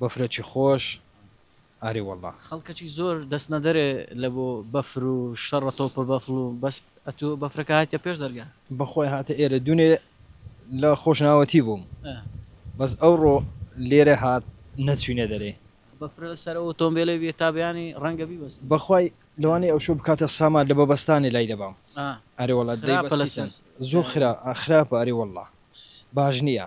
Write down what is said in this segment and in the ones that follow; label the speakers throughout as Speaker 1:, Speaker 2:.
Speaker 1: بەفرەکی خۆش ئاری وەڵا. خەڵکەکی زۆر دەست
Speaker 2: نەدەرێ لە بۆ بەفر و شەڕە تۆپە بەفڵ و بەس ئەتوو بەفرەکە هاتیە پێش دەرگا. بەخوای هاتە ئێرە
Speaker 1: دونێ لە خۆشناوەتی بووم بەس ئەوڕۆ لێرە هات نەچوینە دەرێ. بەفرە لە سەر
Speaker 2: ئەوتۆمبێلێ بیە تا بەیانی ڕەنگە بیبەستن. بەخوای لەوانەیە
Speaker 1: ئەوشۆ بکاتە سامار لە بەبەستانێ لای دەبام ئاری وەڵا دەیبەستیتن زۆر خراپە ئاری وەڵا باش نیە.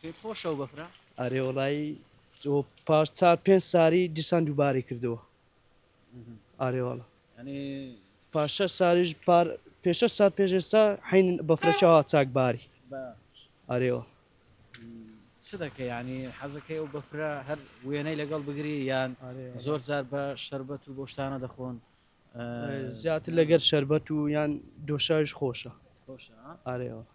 Speaker 3: پێت خۆشە ئەو
Speaker 2: بەفرە؟ ئەرێ وەڵایی
Speaker 3: ئەو پاش چار پێنج ساری دیسان دووبارەی کردەوە ئارێ وەڵا یانی
Speaker 2: پاش شەش
Speaker 3: ساریش پار پێ شەش سار پێش ئێستا حین بەفرەکە وا چاک باری بە ئارێ وەڵا
Speaker 2: چ دەکەی یانی حەزەکەی ئەو بەفرە هەر وێنەی لەگەڵ بگری یان ئارێ وەڵا. زۆر جار بە شەربەت و بۆشتانە دەخۆن ئە،
Speaker 3: زیاتر لەگەر شەربەت و یان دۆشاویش خۆشە خۆشە ها؟ ئارێ وەڵا